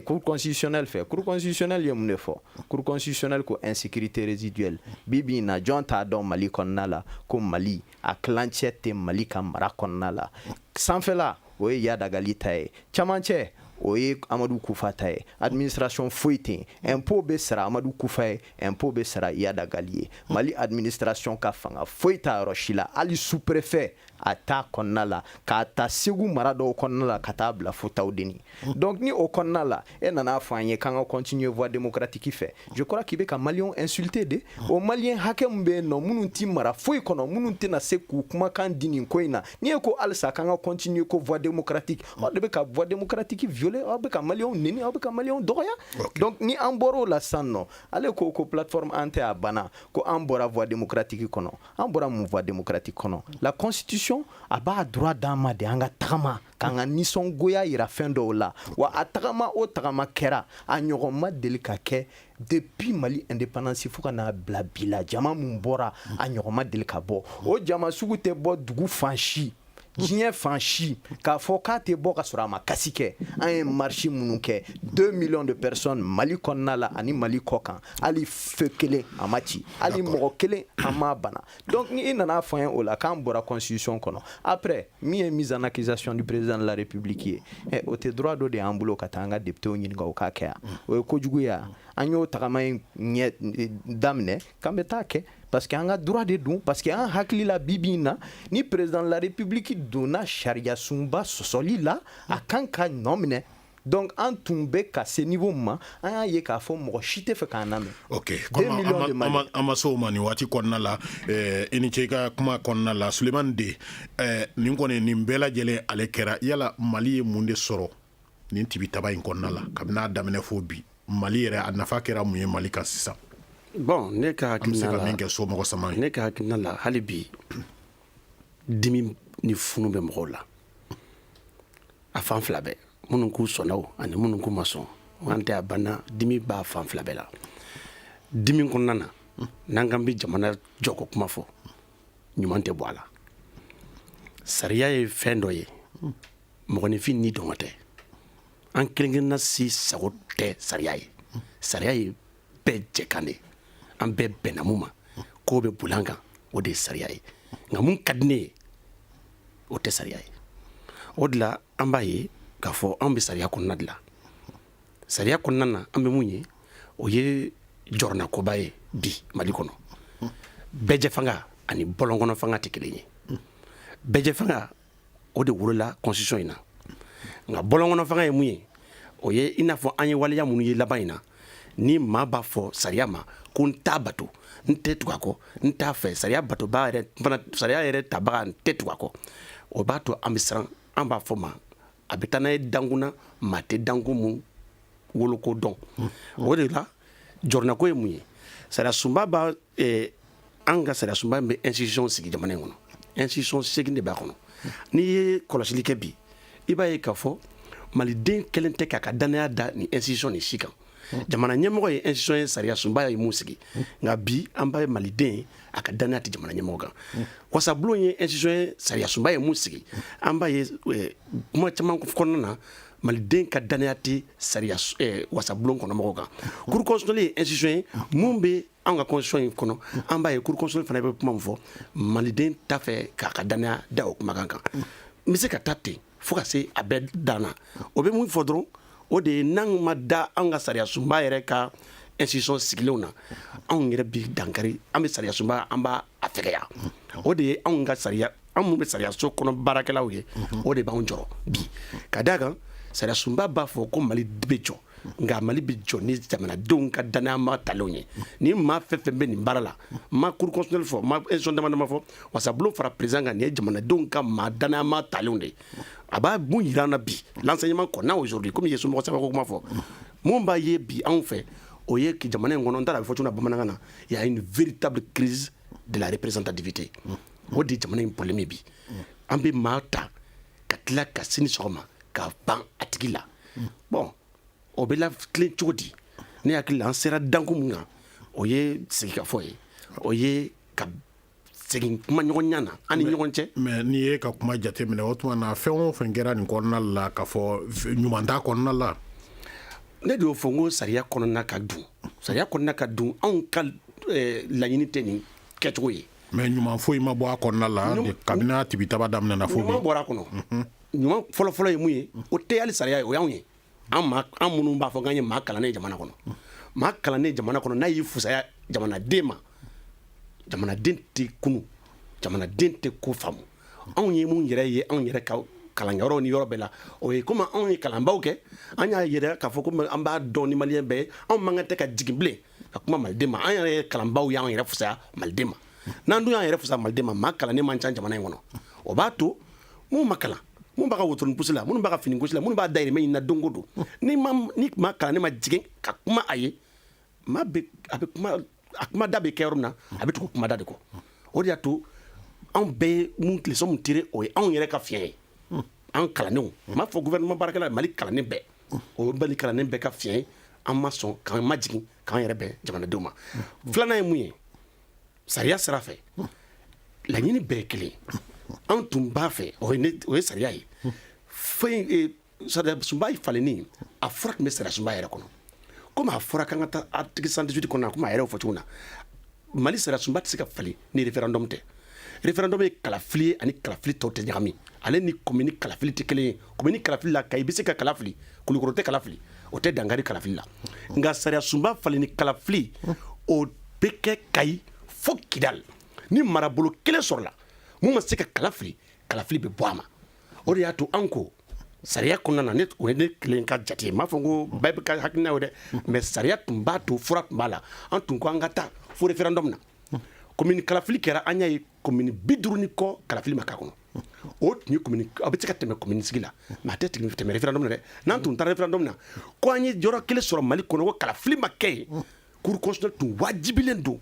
E: cour constitutionnelle fɛ cour constitutionnelle ye mun de fɔ cour constitutionnelle ko insécurité résiduelle bi bi in na jɔn t'a dɔn mali kɔnɔna la ko mali a tilancɛ tɛ mali ka mara kɔnɔna la sanfɛla o ye yadagali ta ye camancɛ o ye amadu kufa ta ye administration foyi tɛ yen impôt bɛ sara amadu kufa ye impôt bɛ sara yadagali ye mali administration ka fanga foyi t'a yɔrɔ si la hali sous-préfet a t'a kɔnɔna la k'a ta segu mara dɔw kɔnɔna la ka taa bila fo tawudeni donc ni o kɔnɔna la e nana a fɔ an ye k'an ka continuer voie démocratique fɛ je crois k'i bɛ ka maliyɛnw insulter de o maliyɛn hakɛ min bɛ yen nɔ minnu tɛ mara foyi kɔnɔ minnu tɛna se k'u kumakan di nin ko in na ni e ko halisa k'an ka continuer ko voie démocratique aw de bɛ ka voie démocratique violer aw bɛ ka maliyɛnw neni aw bɛ ka maliyɛnw dɔgɔya donc ni an bɔra o la san nɔ ale ko ko plateforme an tɛ a banna ko an bɔra voie démocratique kɔnɔ an bɔra mun voie démocratique kɔnɔ la constitution a b'a droit d'an ma de an ka tagama k'an ka nisɔngoya yira fɛn dɔw la wa a tagama o tagama kɛra a ɲɔgɔn ma deli ka kɛ depuis mali indépendance fo ka n'a bila bi la jama mun bɔra a ɲɔgɔn ma deli ka bɔ o jama sugu tɛ bɔ dugu fan si diɲɛ fan si k'a fɔ k'a tɛ bɔ ka sɔrɔ a ma casse kɛ an ye marche minnu kɛ 2 millions de personnes mali kɔnɔna la ani mali kɔ kan hali feu kelen a ma ci hali mɔgɔ kelen an m'a bana donc ni i nana a fɔ an ye o la k'an bɔra constitution kɔnɔ après min ye mise en accusation du président de la république ye eh, o tɛ droit dɔ de y'an bolo ka taa an ka députéw ɲininka o k'a kɛ yan o ye kojugu ye yan an y'o tagama in ɲɛ eh, daminɛ k'an bɛ taa kɛ parce que an ka droit de don parce que an hakili la bi bi in na ni président de la république donna sariyasunba sɔsɔli la a kan ka nɔminɛ donc an tun bɛ ka se niveau min ma an y'a ye k'a fɔ mɔgɔ si tɛ fɛ k'an lamɛn ok
A: komi an ma se o ma nin waati kɔnɔna la eh, i ni ce i ka kuma kɔnɔna la sulemani de eh, nin kɔni nin bɛɛ lajɛlen ale kɛra yala mali ye mun de sɔrɔ nin tibitaba in kɔnɔna la kabini a daminɛ fo bi mali yɛrɛ a nafa kɛra mun ye mali kan sisan bon
D: ne ka hakilina la min kɛ so mɔgɔ sama ne ka hakilina la hali bi dimi ni funu bɛ mɔgɔw la a fan fila bɛɛ minnu k'u sɔnna o ani minnu k'u ma sɔn an tɛ a banna dimi b'a fan fila bɛɛ la dimi kɔnɔna na n'an k'an bɛ jamana jɔko kuma fɔ ɲuman tɛ bɔ a la sariya ye fɛn dɔ ye mɔgɔninfin nidungɔ tɛ an kelenkelenna si sago tɛ sariya ye sariya ye bɛɛ jɛkan de an bɛɛ bɛnna mun ma k'o bɛ boli an kan o de ye sariya ye nka mun ka di ne ye o tɛ sariya ye o de la an b'a ye k'a fɔ anw bɛ sariya kɔnɔna de la sariya kɔnɔna na an bɛ mun ye o ye jɔrɔnakoba ye bi mali kɔnɔ bɛɛjɛfanga ani bɔlɔnkɔnɔ fanga tɛ kelen ye bɛɛjɛfanga o de wolola constitution in na nka bɔlɔnkɔnɔ fanga ye mun ye o ye i n'a fɔ an ye waleya minnu ye laban in na ni maa b'a fɔ sariya ma ko n t'a bato n tɛ tugu a kɔ n t'a fɛ sariya batobaa yɛrɛ fana sariya yɛrɛ tabaga n tɛ tugu a kɔ o b'a to an bɛ siran an b'a fɔ maa bɛ taa n'a ye dankun na maa tɛ dankun mun woloko dɔn o de la jɔrɔnako ye mun ye sariya sunba b'a eh, an ka sariya sunba in bɛ institution sigi jamana in kɔnɔ institution seegin de b'a kɔnɔ n'i ye kɔlɔsili kɛ bi i b'a ye k'a fɔ maliden kelen tɛ k'a ka dannaya da nin institution nin si kan jamana ɲɛmɔgɔ ye institution ye sariya sunba ye mun sigi nka bi an b'a ye maliden a ka dannaya tɛ jamana ɲɛmɔgɔ kan wasabulon ye institution ye sariya sunba ye mun sigi an b'a ye eh, kuma caman kɔnɔna na maliden ka dannaya tɛ sariya eh, wasabulon kɔnɔmɔgɔw kan cour constitutionnelle ye institution ye mun bɛ an ka constitution in kɔnɔ an b'a ye cour constitutionnelle fana bɛ kuma min fɔ maliden t'a fɛ k'a ka danaya da o kumakan kan n bɛ se ka taa ten fo ka se a bɛɛ dan na o bɛ mun fɔ dɔrɔn o de ye n'an ma da an ka sariya sunba yɛrɛ ka institution sigilenw na anw yɛrɛ bi dankari an bɛ sariya sunba an b'a fɛgɛya o de ye anw ka sariya an minnu bɛ sariyaso kɔnɔ baarakɛlaw ye o de b'an jɔrɔ bi ka d' a kan sariya sunba b'a fɔ ko mali bɛ jɔ nka mali bɛ jɔ ni jamanadenw ka danma ta ye ni maa fɛn fɛn bɛ nin baara la ma kurusli fɔ ma ec damama fɔ walasabolo fara prez kan nin ye jamanadenw ka maa danma ta de a b'a bon jira na bi ɲuman kɔnɔ n'o sɔrɔ kɔmi ye somɔgɔ saba kuma fɔ minnu b'a ye bi anw fɛ o ye jamana in kɔnɔ taara a bɛ fɔ bamanankan na y'a ye vri ta kiiriri dare perez ta dibite o de jamana in bɔlen min bi an bɛ maa ta ka tila ka sini sɔgɔma ka ban a tigi la bɔn o bɛ la tilen cogo di ne hakili la an sera danko min kan o ye sigikafɔ ye o ye ka segin kuma ɲɔgɔnya na an ni ɲɔgɔn cɛ mais n'i ye ka kuma
A: jate minɛ o tuma na fɛn o fɛn kɛra nin kɔnɔna la k'a fɔ ɲuman t'a kɔnɔna la
D: ne de y'o fɔ n ko sariya kɔnɔna ka dun sariya kɔnɔna ka dun anw ka eh, laɲini tɛ nin kɛcogo ye
A: mais
D: ɲuman foyi
A: ma bɔ a
D: kɔnɔna
A: la kabini a tibitaba
D: daminɛna
A: fo bi
D: ɲuman bɔra
A: a kɔnɔ
D: ɲuman fɔlɔfɔlɔ ye mun ye o tɛ hali sariya ye o y'anw ye an minnu b'a fɔ k'an ye maa kalannen ye jamana kɔnɔ maa kalannen jamana kɔnɔ n'a y'i fusaya jamanaden ma jamanaden tɛ kunu jamanaden tɛ ko faamu anw ye mun yɛrɛ ye anw yɛrɛ ka kalanyɔrɔ ni yɔrɔ bɛɛ la o ye komi anw ye kalanbaw kɛ an y'a yɛrɛ k'a fɔ ko an b'a dɔn ni maliyɛn bɛɛ ye anw man kan tɛ ka jigin bilen ka kuma maliden ma an yɛrɛ ye kalanbaw y'an yɛrɛ fusaya maliden ma n'an dun y'an yɛrɛ fusaya maliden ma maa kalannen man ca jamana in kɔnɔ o b'a to mun ma kalan mun b'a ka wotoronin pusi la minnu b'a ka fini gosi la minnu b'a dayirimɛ ɲini na don o don ni maa ni maa kalannen ma jigin ka kuma a ye ma bɛ a bɛ kuma a kuma da bɛ kɛ yɔrɔ min na a bɛ tugu kuma da de kɔ o de y'a to anw bɛɛ ye mun leçon mun tire o ye anw yɛrɛ ka fiɲɛ ye an kalannenw n m'a fɔ gouvernement baarakɛla Mali kalannen bɛɛ o ye Mali kalannen bɛɛ ka fiɲɛ ye an ma sɔn k'an majigin k'an yɛrɛ bɛn jamanadenw ma filanan ye mun ye sariya sira fɛ laɲini bɛɛ ye kelen an tun b'a fɛ o ye sariya ye fɛn eh, sariya sunba falenni a fura tun bɛ sariya sunba yɛrɛ kɔnɔ komi a fɔra k'an ka taa article 118 kɔnɔ a komi a yɛrɛ fɔ cogo na mali sariyasunba tɛ se ka falen ni référendum tɛ référendum ye kalafili ye ani kalafili tɔw tɛ ɲagami ale ni komini kalafili tɛ kelen ye komini kalafili la kayi bɛ se ka kala fili kulukɔrɔ tɛ kala fili o tɛ dankari kalafili la nka sariyasunba falenni kalafili o bɛ kɛ kayi fo kidal ni marabolo kelen sɔrɔla mun ma se ka kala fili kalafili bɛ bɔ a ma o de y'a to an ko Sariya kɔnɔna na o ye ne kelen ka jate ye m'a fɔ ko bɛɛ bɛ ka hakilina ye dɛ mais sariya tun b'a to fura tun b'a la an tun ko an ka taa fo référendum na commune kalafili kɛra an y'a ye commune bi duuru ni kɔ kalafili ma k'a kɔnɔ o tun ye commune a bɛ se ka tɛmɛ commune sigi la mais a tɛ tɛmɛ référendum na dɛ n'an tun taara référendum na ko an ye yɔrɔ kelen sɔrɔ Mali kɔnɔ ko kalafili ma kɛ yen cour constitutionnelle tun wajibilen don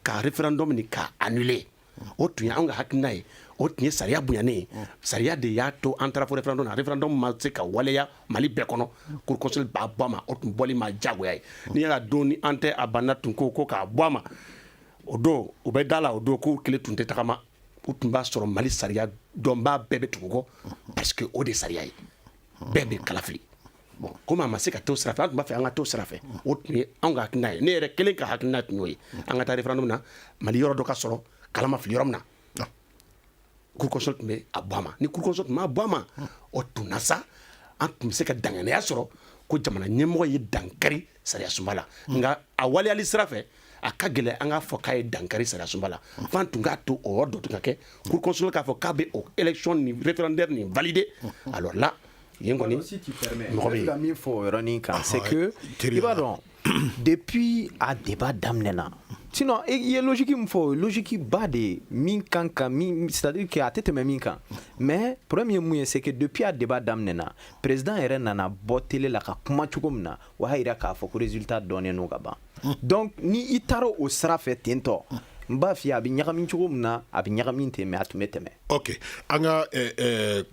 D: ka référendum nin k'a annuler o tun ye an ka hakilina ye o tun ye sariya bonyanen ye sariya de y'a to an taara fo référendum na référendum ma se ka waleya mali bɛɛ kɔnɔ cour constitutionnelle b'a bɔ a ma o tun b'olu ma jagoya ye n'i y'a don ni an tɛ a banna tun ko ko k'a bɔ a ma o don u bɛ d'a la o don k'u kelen tun tɛ tagama u tun b'a sɔrɔ mali sariya dɔnbaa bɛɛ bɛ tugu u kɔ parce que o de sariya ye bɛɛ bɛ kala fili Kɔmi a ma se ka t'o sira fɛ an tun b'a fɛ an ka t'o sira fɛ o tun ye an ka hakilina ye ne yɛrɛ kelen ka hakilina tun y'o ye an ka taa référendum na mali yɔrɔ dɔ ka sɔrɔ kala ma fili yɔrɔ min na cour constitutionnelle tun bɛ a bɔ a ma ni cour constitutionnelle tun m'a bɔ a ma o tun na sa an tun bɛ se ka danganiya sɔrɔ ko jamana ɲɛmɔgɔ ye dankari sariya sunba la nka a waleyali sira fɛ a ka gɛlɛn an k'a fɔ k'a ye dankari sariya sunba la f'an tun k'a to o dɔ tun ka kɛ cour constitutionnelle k'a fɔ k'a bɛ o élection référendaire nin valider alors là Yen kɔni si tu permets mɔgɔ bɛ yen, n b'a fɛ ka min fɔ o yɔrɔnin
E: kan c'est que i b'a dɔn depuis a débat daminɛna sinon i ye logique min fɔ o ye logique ba de ye min kan ka min c'est à dire que a tɛ tɛmɛ min kan mais problème ye mun ye c'est que depuis a débat daminɛna président yɛrɛ nana bɔ télé la ka kuma cogo min na o y'a jira k'a fɔ ko résultat dɔnnen don ka ban donc ni i taara o sira fɛ ten tɔ n b'a f'i ye a bɛ ɲagami cogo min na a bɛ ɲagami ten mais a tun bɛ tɛmɛ ok an ka
A: eh, eh,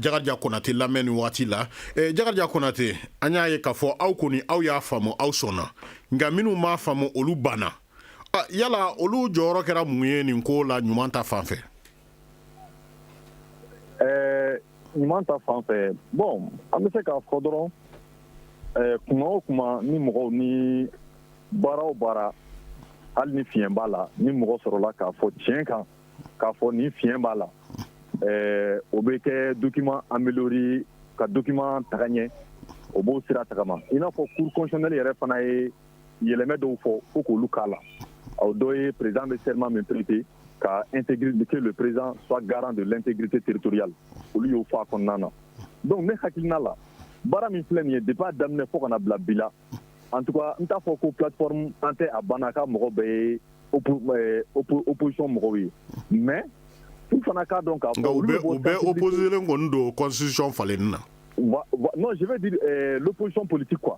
A: Jakarija Konate lamɛn nin wagati la eh, Jakarija Konate an y'a ye k'a fɔ aw kɔni aw y'a faamu aw sɔnna nka minnu m'a faamu olu banna ah, yala olu jɔyɔrɔ kɛra mun ye nin ko la ɲuman ta fan fɛ
F: Ɛɛ ɲuman ta fan fɛ bon an bɛ se k'a fɔ dɔrɔn ɛɛ kuma o kuma ni mɔgɔw ni baara o baara hali ni fiɲɛ b'a la ni mɔgɔ sɔrɔla k'a fɔ tiɲɛ kan k'a fɔ nin fiɲɛ b'a la ɛɛ o bɛ kɛ document améliorer ka document taga ɲɛ o b'o sira tagama i n'a fɔ cour constitutionnelle yɛrɛ fana ye yɛlɛmɛ dɔw fɔ ko k'olu k'a la o dɔ ye président bɛ serment min prêter ka integite le perez fa garan de tɛgkite teritoriya olu y'o faa kɔnɔna na dɔnku ne hakilikiina la baara min filɛ nin ye de b'a daminɛ fo kana bila bi la an tun n t'a fɔ ko pff an tɛ a banna ka mɔgɔ bɛ ye opsɔn mɔgɔw ye mɛ u fana k'a dɔn ka bɛpzelen
A: kɔni donsisɔn falenlen na n'o sɛbɛn
F: di psisɔnɔn politi kuwa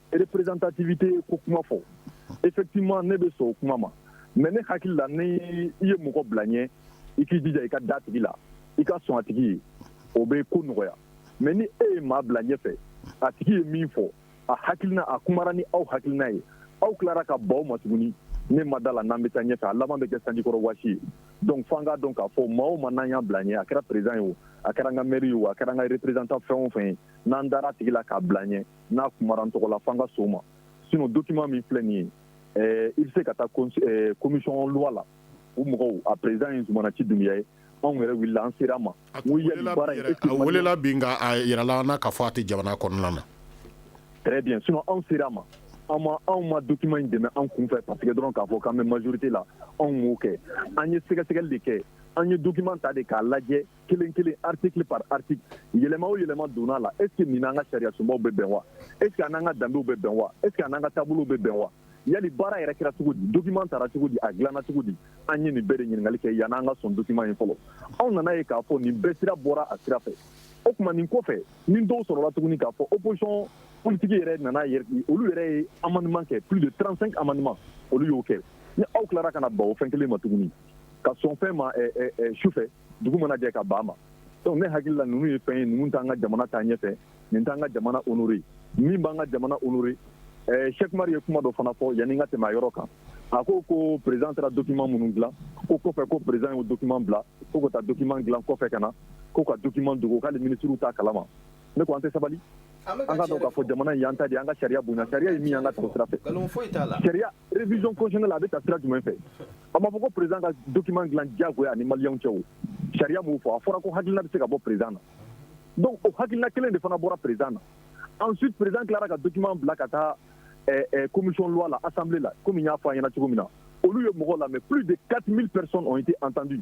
F: représentativité ko kuma fɔ effectivement ne bɛ sɔn o kuma ma mais ne hakili la ni i ye mɔgɔ bila ɲɛ i k'i jija i ka da a tigi la i ka sɔn a tigi ye o bɛ ko nɔgɔya mais ni e ye maa bila ɲɛfɛ a tigi ye min fɔ a hakilina a kumara ni aw hakilina ye aw tilara ka ban o ma tuguni ne ma da a la n'an bɛ taa ɲɛfɛ a laban bɛ kɛ sanjikɔrɔ waasi ye donc f'an k'a dɔn k'a fɔ maa o maa n'an y'a bila ɲɛ a kɛra président ye o a kɛra an ka maire ye o a kɛra an ka représentant fɛn o fɛn ye n'an dara a tigi la k'a bila ɲɛ n'a kumara an tɔgɔ la f'an ka sɔn o ma sinon document min filɛ nin ye ɛɛ i bɛ se ka taa commission loi la o mɔgɔw a président ye Zumana Nci Dunbiya ye anw yɛrɛ wulila an sera a ma a
A: welela bi nka a yirala an na k'a fɔ a tɛ jamana kɔnɔna na très
F: bien sinon anw sera a ma an ma anw ma document in dɛmɛ an kunfɛ parce que dɔrɔn k'a fɔ k'an bɛ majorité la anw m'o kɛ an ye sɛgɛsɛgɛli de kɛ an ye document ta de k'a lajɛ kelen kelen article par article yɛlɛma o yɛlɛma donna la est ce que nin n'an ka sariya sunbaw bɛ bɛn wa est ce que a n'an ka danbew bɛ bɛn wa est ce que a n'an ka taabolow bɛ bɛn wa yali baara yɛrɛ kɛra cogo di document tara cogo di a dilanna cogo di an ye nin bɛɛ de ɲininkali kɛ yan'an ka sɔn document ye fɔlɔ anw nana ye k'a fɔ nin bɛɛ sira bɔra a sira fɛ o tuma nin kɔfɛ ni dɔw sɔrɔla tuguni k'a fɔ opposition politique yɛrɛ nana olu yɛrɛ ye amendement kɛ plus de 35 amendements olu y'o kɛ ni aw tilara ka na ban o fɛn kelen ma tuguni ka sɔn fɛn ma sufɛ dugu mana jɛ ka ban ma donc ne hakili la ninnu ye fɛn ye ninnu t'an ka jamana taa ɲɛfɛ nin t'an ka jamana honoré min b'an ka jamana honoré eh, Cheikh Umar ye kuma dɔ fana fɔ yanni n ka tɛmɛ a yɔrɔ kan a ko ko président taara document minnu dilan ko kɔfɛ ko président y'o document bila ko ka taa document dilan kɔfɛ ka na ko ka document dogo k'ale ministrew t'a kalama ne ko an tɛ sabali an ka dɔn k'a fɔ jamana in y'an ta de ye an ka sariya bonya sariya ye min y'an ka tɛmɛ sira fɛ sariya révision constitutionnelle a bɛ ta sira jumɛn fɛ a ma fɔ ko président ka document dilan diyagoya a ni maliyɛnw cɛ o sariya m'o fɔ a fɔra ko hakilina bɛ se ka bɔ président na donc o hakilina kelen de fana bɔra président na ensuite président tilara ka document bila ka taa eh, eh, commission loi la assemblée la komi n y'a fɔ aw ɲɛna cogo min na olu ye mɔgɔ lamɛn plus de 4000 personnes ont été entendues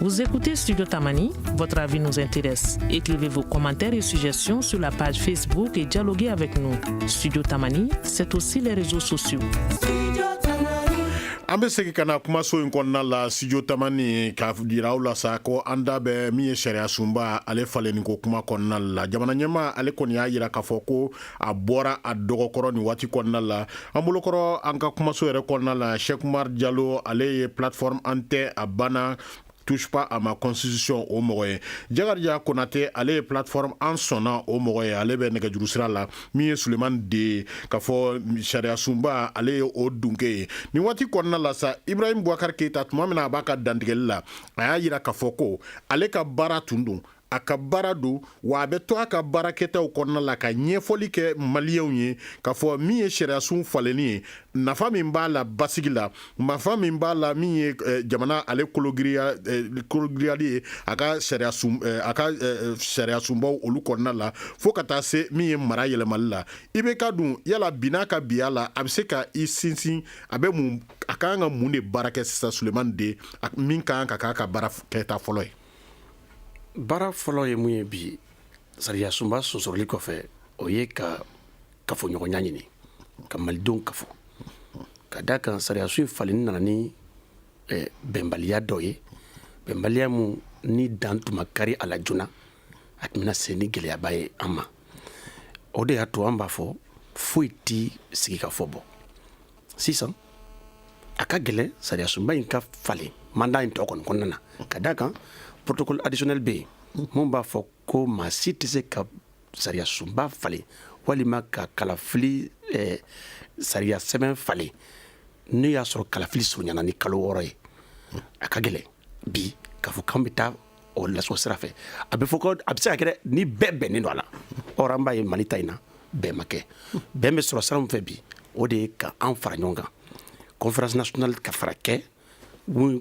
B: Vous écoutez Studio Tamani, votre avis nous intéresse. Écrivez vos commentaires et suggestions sur la page Facebook et dialoguez avec nous. Studio Tamani, c'est aussi les réseaux
A: sociaux. an bɛ segin ka na kumaso in kɔnɔna la studio tamani k'a jira aw la sa ko an da bɛ min ye sariya sunba ale falenni ko kuma kɔnɔna la jamana ɲɛmaa ale kɔni y'a jira k'a fɔ ko a bɔra a dɔgɔkɔrɔ nin waati kɔnɔna la an bolokɔrɔ an ka kumaso yɛrɛ kɔnɔna la Cheikh Umar Jalo ale ye plateforme an tɛ a banna touche pas à ma constitution o mɔgɔ ye Jakarija Konatɛ ale ye plateforme an sɔnna o mɔgɔ ye ale bɛ nɛgɛjuru sira la min ye Sulemani De ye k'a fɔ sariya sunba ale ye o dunke ye nin waati kɔnɔna la sa Ibrahim Bubakari Keyita tuma min na a b'a ka dantigɛli la a y'a jira k'a fɔ ko ale ka baara tun don a ka baara don wa a bɛ to a ka baarakɛtaw kɔnɔna la ka ɲɛfɔli kɛ maliyɛnw ye k'a fɔ min ye sariyasun falenni ye nafa min b'a la basigi la nafa min b'a la min ye eh, jamana ale kologiriyali eh, ye a ka eh, a ka sariyasunbaw olu kɔnɔna la fo ka taa se min ye mara yɛlɛmali la i bɛ ka dun yala bin'a ka biya la a bɛ se ka i sinsin a bɛ mun a ka kan ka mun de baara kɛ sisan sulemani de min ka kan ka k'a ka baara kɛta fɔlɔ ye
D: baara fɔlɔ ye mun ye bi sariya sunba sonsoroli kɔfɛ o ye ka kafoɲɔgɔnya ɲini ka malidenw kafo ka da kan sariyasun falenni nana ni eh, bɛnbaliya dɔ ye bɛnbaliya mun ni dan tun ma kari a la joona a tun bɛna se ni gɛlɛyaba ye an ma o de y'a to an b'a fɔ foyi tɛ sigikafɔ bɔ sisan a ka gɛlɛn sariyasunba in ka falen mandat in tɔ kɔni kɔnɔna na ka da kan protocole additionnel bɛ yen mun b'a fɔ ko maa si tɛ se ka sariyasunba falen walima ka kalafili eh, sariya sɛbɛn falen n'o y'a sɔrɔ kalafili surunyana ni kalo wɔɔrɔ ye a ka gɛlɛn bi k'a fɔ k'an bɛ taa o lasso sira fɛ a bɛ fɔ a bɛ se ka kɛ ni bɛɛ bɛnnen don a la or an b'a ye mali ta in na bɛn ma kɛ bɛn bɛ sɔrɔ sira min fɛ bi o de ye ka an fara ɲɔgɔn kan conférence nationale ka fara kɛ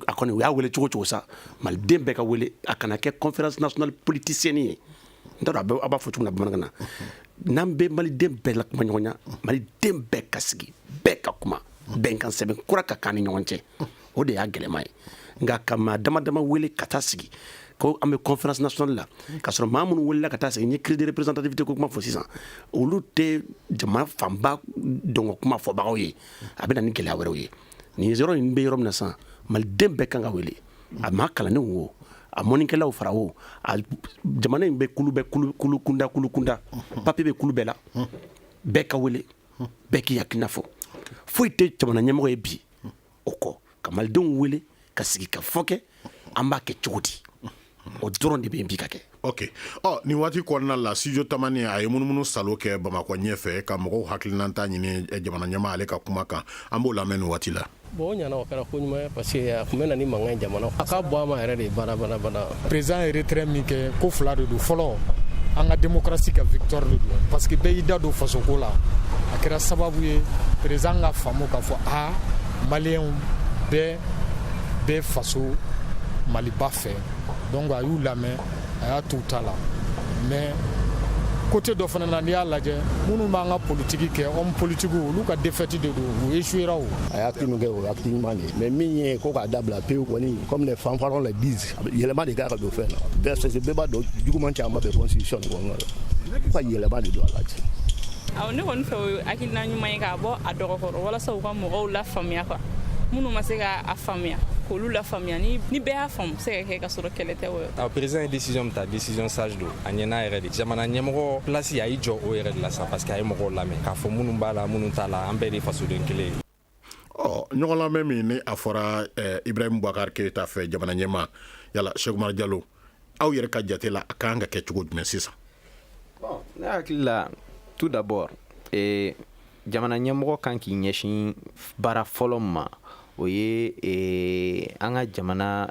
D: a kɔni u y'a wele cogo cogo sa maliden bɛɛ ka wele a kana kɛ conférence nationale politicienne ye n t'a dɔn a b'a fɔ cogo min na bamanankan na n'an bɛ maliden bɛɛ la kuma ɲɔgɔnya maliden bɛɛ ka sigi bɛɛ ka kuma bɛnkansɛbɛn kura ka k'an ni ɲɔgɔn cɛ o de y'a gɛlɛma ye nka ka maa dama dama wele ka taa sigi ko an bɛ conférence nationale la ka sɔrɔ maa minnu welela ka taa sigi n ye crise de représentativité ko kuma fɔ sisan olu tɛ jama fanba tɔgɔ kuma fɔbagaw ye a bɛ na ni gɛlɛya wɛrɛw ye nin yɔrɔ in bɛ yɔrɔ min na sisan maliden bɛɛ kan ka wele a maa kalannenw wo a mɔnnikɛlaw fara o a jamana in bɛ kulu bɛɛ kulu kunda kulu kunda papiye bɛ kulu bɛɛ la bɛɛ ka wele bɛɛ k'i hakilina fɔ foyi tɛ jamana ɲɛmɔgɔ ye bi o kɔ ka malidenw wele ka sigikafɔ kɛ an b'a kɛ cogo di o dɔrɔn de bɛ yen bi ka kɛ ok ɔ nin
A: waati kɔnɔna la studio tamani a ye munumunu salo kɛ bamakɔ ɲɛfɛ ka mɔgɔw hakilinanta ɲini eh, jamana ɲɛmaa ale ka kuma kan an b'o lamɛn nin waati la bon o ɲana o kɛra
H: ko ɲuman ye parce que a tun bɛ na ni mankan ye jamana a ka bɔ a ma yɛrɛ de bana Président
I: ye retrait min kɛ ko fila de don fɔlɔ an ka démocratie ka victoire de don parce que bɛɛ y'i da don fasoko la a kɛra sababu ye président ka faamu k'a fɔ a maliyɛnw bɛɛ bɛ faso maliba fɛ donc a y'u lamɛn a y'a t'u ta la mais côté dɔ fana na n'i y'a lajɛ minnu b'an ka politiki kɛ homme politikiw olu ka défaite de don u échouera o a y'a kinu kɛ o ye
J: acte ɲuman de ye mais min ye ko k'a dabila pewu kɔni comme les fanfarons le disent yɛlɛma de kan ka don fɛn na bɛɛ bɛɛ b'a dɔn juguman caman bɛ constitution de kɔnɔna la ko ka yɛlɛma de don a la ten awɔ ne kɔni fɛ o ye
K: hakilina ɲuman ye k'a bɔ a dɔgɔ kɔrɔ walasa u ka mɔgɔw lafaamuya quoi minnu ma se ka a faamuya k'olu lafaamuya ni ni bɛɛ y'a faamu se ka kɛ ka sɔrɔ kɛlɛ tɛ wɔyɔ a président ye décision min ta décision sage don a ɲɛna yɛrɛ de jamana ɲɛmɔgɔ place a y'i jɔ o yɛrɛ de la sa parce que a ye mɔgɔw lamɛn k'a fɔ minnu b'a la minnu t'a la an bɛɛ de fasoden kelen Ɔ ɲɔgɔn
A: lamɛn min ni a fɔra Ibrahim Boubacar Keita fɛ jamana ɲɛmaa yala Cheikh Oumar Diallo aw yɛrɛ ka jate la a kan ka kɛ cogo jumɛn sisan
E: bon ne hakili la tout d'abord jamana ɲɛmɔgɔ kan k'i ɲɛsin baara fɔlɔ ma o ye an ka jamana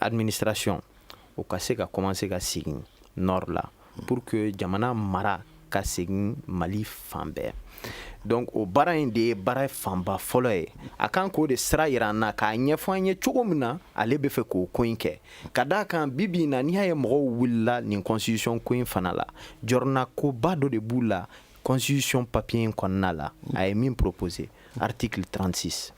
E: administration o ka se ka commencer ka segin nord la Pour que jamana mara ka segin Mali fan bɛɛ donc o baara in de ye baara fanba fɔlɔ ye a kan k'o de sira yira an na k'a ɲɛfɔ an ye cogo min na ale bɛ fɛ k'o ko in kɛ ka d'a kan bi bi in na n'i y'a ye mɔgɔw wulila nin constitution ko in fana la jɔrɔna koba dɔ de b'u la constitution papier in kɔnɔna la a ye min proposer article 36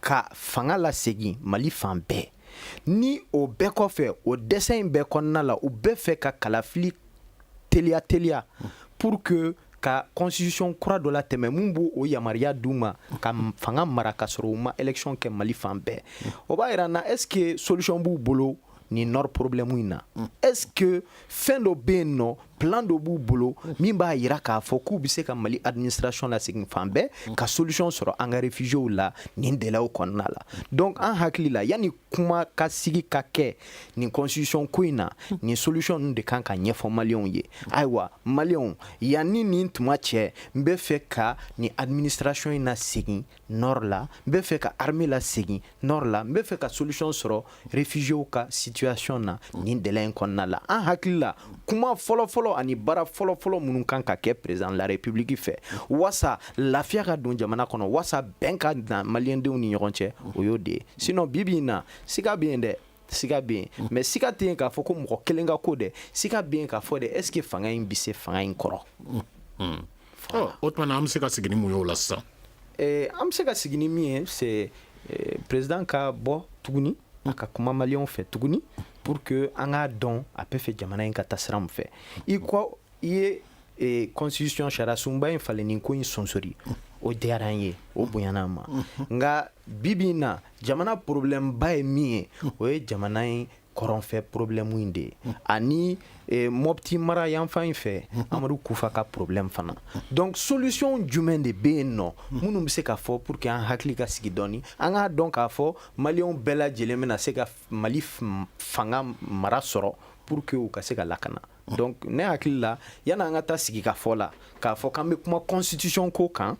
E: ka fanga lasegin mali fan bɛɛ ni o bɛɛ kɔfɛ o dɛsɛ in bɛɛ kɔnɔna la u bɛ fɛ ka kalafili teliya teliya pour que ka constitution kura dɔ latɛmɛ mun b'o o yamaruya d'u ma ka fanga mara ka sɔrɔ u ma élection kɛ mali fan bɛɛ o b'a yira na est ce que solution b'u bolo nin nord problème in na est ce que fɛn dɔ bɛ yen nɔ plan dɔ b'u bolo min b'a yira k'a fɔ k'u bɛ se ka mali administration lasegin fan bɛɛ ka solution sɔrɔ an ka réfugiés la nin délai kɔnɔna la donc an hakili la yanni kuma ka sigi ka kɛ nin constitution ko in na nin solution ninnu de kan ka ɲɛfɔ maliyɛnw ye ayiwa maliyɛnw yanni nin tuma cɛ n bɛ fɛ ka nin administration in nasegin nord la n bɛ fɛ ka armée lasegin nord la n bɛ fɛ ka solution sɔrɔ réfugiés ka situation na nin délai in kɔnɔna la an hakili la kuma fɔlɔfɔlɔ ani baara fɔlɔfɔlɔ minnu kan ka kɛ président de la république fɛ wasa lafiya ka don jamana kɔnɔ wasa bɛn ka na maliyɛndenw ni ɲɔgɔn cɛ o y'o de ye sinon bi bi in na siga bɛ yen dɛ siga bɛ yen mais siga tɛ yen k'a fɔ ko mɔgɔ kelen ka ko dɛ siga bɛ yen k'a fɔ de est ce que fanga in bɛ se fanga in kɔrɔ
A: O tuma an bɛ se ka sigi ni mun ye o la sisan an
E: bɛ se ka sigi ni min ye c'est président ka bɔ tuguni a ka kuma maliyɛnw fɛ tuguni pour que an k'a dɔn a bɛ fɛ jamana in ka taa sira min fɛ i ko i ye constitution sariyasunba in falenni ko in sonsori o diyara an ye o bonyana an ma nka bibi in na jamana problème ba ye min ye o ye jamana in kɔrɔnfɛ problème in de ye ani eh, mɔpti mara yanfan in fɛ amadu kufa ka problème fana donc solution jumɛn de bɛ yen nɔ minnu bɛ se ka fɔ pour que an hakili ka sigi dɔɔni an k'a dɔn k'a fɔ maliyɛnw bɛɛ lajɛlen bɛna se ka mali fanga mara sɔrɔ pour que u ka se ka lakana donc ne hakili la yan'an ka taa sigi ka fɔ la k'a fɔ k'an bɛ kuma constitution ko kan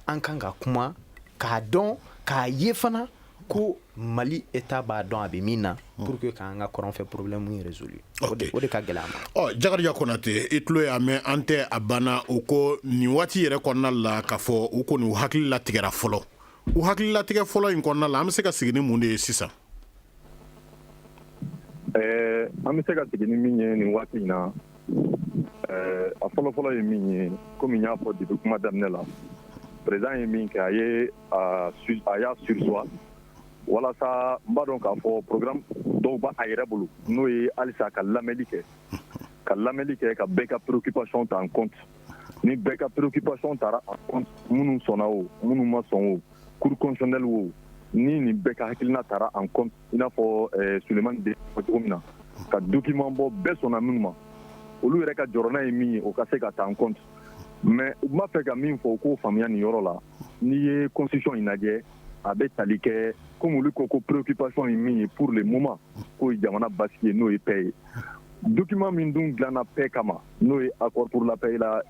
E: an kan ka kuma k'a dɔn k'a ye fana ko mali état b'a dɔn a bɛ min na hmm. pour que k'an ka kɔrɔn fɛ problème in résolu o de ka gɛlɛ a ma ɔ jakariya konate
A: i tulo y'a mɛn an tɛ a banna u ko nin waati yɛrɛ kɔnɔna la k'a fɔ u kɔni u hakili latigɛra fɔlɔ u hakili latigɛ fɔlɔ in kɔnɔna la an bɛ se ka sigi ni mun de ye sisan
F: Ɛɛ an bɛ se ka sigi ni min ye nin waati in na a fɔlɔfɔlɔ ye min ye kɔmi n y'a fɔ depuis kuma daminɛ la président ye min kɛ a ye a y'a surseoir walasa n b'a dɔn k'a fɔ programme dɔw b'a yɛrɛ bolo n'o ye halisa ka lamɛnli kɛ ka lamɛnli kɛ ka bɛɛ ka préoccupation ta en compte ni bɛɛ ka préoccupation tara en compte minnu sɔnna o minnu ma sɔn o kuru kɔnɔnsanli wo ni nin bɛɛ ka hakiliina taara an kɔn in n'a fɔ somani de cogo min na ka dukiman bɔ bɛɛ sɔnna min ma olu yɛrɛ ka jɔna ye min ye o ka se ka taa an kɔn mɛ u b'a fɛ ka min fɔ u k'o faamuyaya nin yɔrɔ la n'i ye kɔnsisɔn in lajɛ a bɛ tali kɛ ko olu ko ko purkipsɔn ye min ye purlen muma k'o ye jamana basi ye n'o ye bɛɛ ye dukiman min dun dilana bɛɛ kama n'o ye apurlapla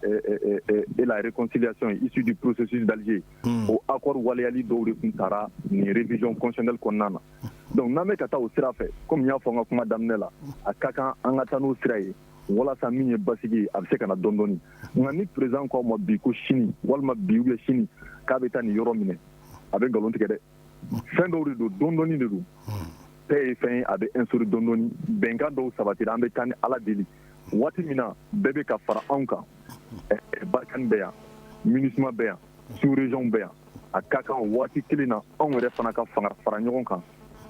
F: ereksiyasɔn ye isidi pssi dalize hmm. o accord waleyali dɔw de tun taara nin révision constitutionnelle kɔnɔna na donc n'an bɛ ka taa o sira fɛ comme n y'a fɔ n ka kuma daminɛ la a ka kan an ka taa n'o sira ye walasa min ye basigi ye a bɛ se ka na dɔɔni dɔɔni nka ni président k'aw ma bi ko sini walima bi ou bien sini k'a bɛ taa nin yɔrɔ minɛ a bɛ nkalon tigɛ dɛ fɛn dɔw de don dɔɔni dɔɔni de don paix ye fɛn ye a bɛ instaurer dɔɔni dɔɔni bɛnkan dɔw sabatira an bɛ taa ni ala deli waati min na bɛɛ bɛ ka fara anw kan Barkhane bɛ yan MINUSMA bɛ yan sous région bɛ yan a ka kan o waati kelen na anw yɛrɛ fana ka fara ɲɔgɔn kan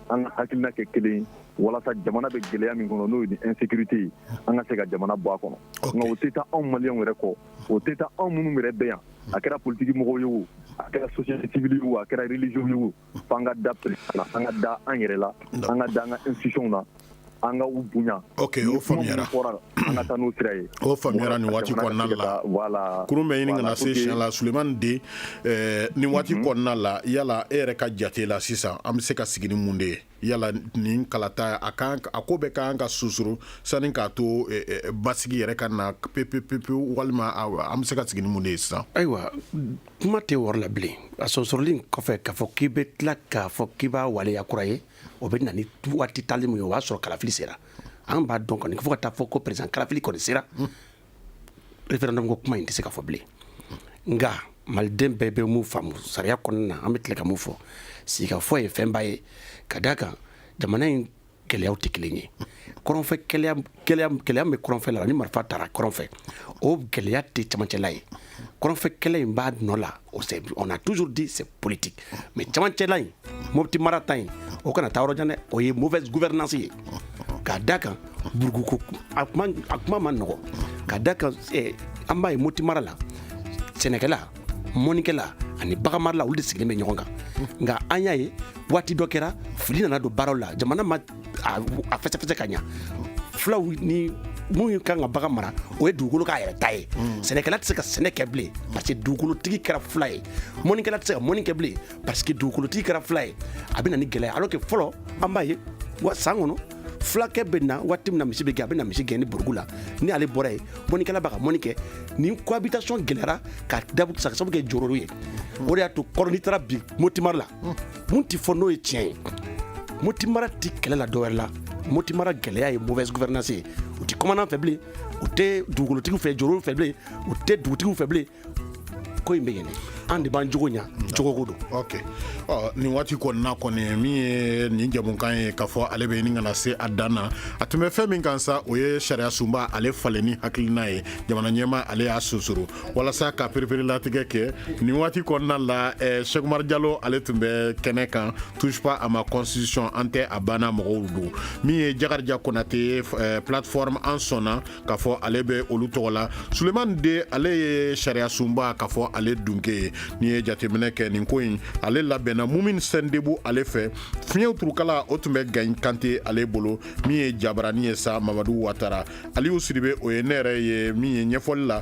F: an ka hakilina kɛ kelen ye walasa jamana bɛ gɛlɛya min kɔnɔ n'o ye ni insécurité ye an ka se ka jamana bɔ a kɔnɔ nka o tɛ taa anw maliyɛnw yɛrɛ kɔ o tɛ taa anw minnu yɛrɛ bɛ yan a kɛra politiki mɔgɔw ye o a kɛra société civile ye o a kɛra religieux ye o fo an ka da président la an ka da an yɛrɛ la an ka da an ka institutions na an ka u bonya ok o
A: faamuyara Ni kuma minnu fɔra an ka taa n'o
F: sira ye o faamuyara nin waati
A: kɔnɔna la voilà kurun bɛ ɲini ka na voilà, se pour que- siɲɛ la sulemani de eh, nin waati kɔnɔna la yala e yɛrɛ ka jate la sisan an bɛ se ka sigi ni mun de ye yala nin kalata a kan a ko bɛ kan ka susuru sani k'a to eh, eh, basigi yɛrɛ ka na pepepepewu walima a- an bɛ se ka sigi ni mun de ye sisan ayiwa
D: kuma tɛ wɔɔrɔ la bilen a sɔsɔrɔli kɔfɛ k'a fɔ k'i bɛ tila k'a fɔ k'i b'a waleya kura ye o bɛ na ni waati tali min ye o b'a sɔrɔ kalafili sera an b'a dɔn kɔni fo ka taa fɔ ko président kalafili kɔni sera référendum ko kuma in tɛ se ka fɔ bilen nka maliden bɛɛ bɛ mun faamu sariya kɔnɔna na an bɛ tila ka mun fɔ sigikafɔ ye fɛnba ye ka d'a kan jamana in gɛlɛyaw tɛ kelen ye kɔrɔnfɛ gɛlɛya bɛ kɔrɔnfɛ la ni marifa taara kɔrɔnfɛ o gɛlɛya tɛ camancɛla ye kɔrɔnfɛ kɛlɛ in b'a nɔ la o c'est on a toujours dit c'est politique mais camancɛla in moti mara ta in o kana taa yɔrɔ jan dɛ o ye mauvaise gouvernance ye ka d'a kan buruguko a kuma a kuma ma nɔgɔ ka d'a kan eh, an b'a ye moti mara la sɛnɛkɛla mɔnikɛla ani baganmarala olu de sigilen bɛ ɲɔgɔn kan nka an y'a ye waati dɔ kɛra fili nana don baaraw la jamana ma a fɛsɛfɛsɛ ka ɲa fulaw ni minnu kan ka bagan mara o ye dugukolo k'a yɛrɛ ta ye mm. sɛnɛkɛla tɛ se ka sɛnɛ kɛ bilen parce que dugukolotigi kɛra fula ye mɔnikɛla tɛ se ka mɔni kɛ bilen parce que dugukolotigi kɛra fula ye a bɛ na ni gɛlɛya alors que fɔlɔ an b'a ye wa san kɔnɔ fulakɛ bɛ na waati min na misi bɛ gɛn a bɛ na misi gɛn ni burugu la ni ale bɔra yen mɔnikɛla b'a ka mɔni kɛ nin cohabitation gɛlɛyara k'a sabu kɛ jɔrɔw ye o de y'a to kɔrɔ n'i taara bi moti mara la mun tɛ fɔ n'o ye tiɲɛ ye moti mara tɛ kɛlɛ la dɔwɛrɛ la moti mara gɛlɛya ye mauvaise gouvernance ye u tɛ kɔmandan fɛ bilen u tɛ dugukolotigiw fɛ jɔrɔw fɛ bilen u tɛ dugutigiw fɛ bilen ko in bɛ yen an de b'an jogo ɲa jogoko don ok
A: ɔ nin waati kɔnɔna kɔni min ye nin jɛmukan ye k'a fɔ ale bɛ ɲini ka na se a dan na a tun bɛ fɛn min kan sa o ye sariya sunba ale falenni hakilina ye jamana ɲɛma ale y'a sunsuru walasa ka pereperelatigɛ kɛ nin waati kɔnɔna la eh, sɛk umar jalo ale tun bɛ kɛnɛ kan touche pas à ma constitution an tɛ a banna mɔgɔw don min ye jakarija konate eh, plateforme an sɔnna k'a fɔ ale bɛ olu tɔgɔ la sulemani de ale ye sariya sunba k'a fɔ ale dunke ye n'i ye jateminɛ kɛ nin ko in ale labɛnna mumin sindebu ale fɛ fiɲɛw turukala o tun bɛ gaɲi kante ale bolo min ye jabarani ye sa mamadu watara aliyu sidibe o ye ne yɛrɛ ye min ye ɲɛfɔli la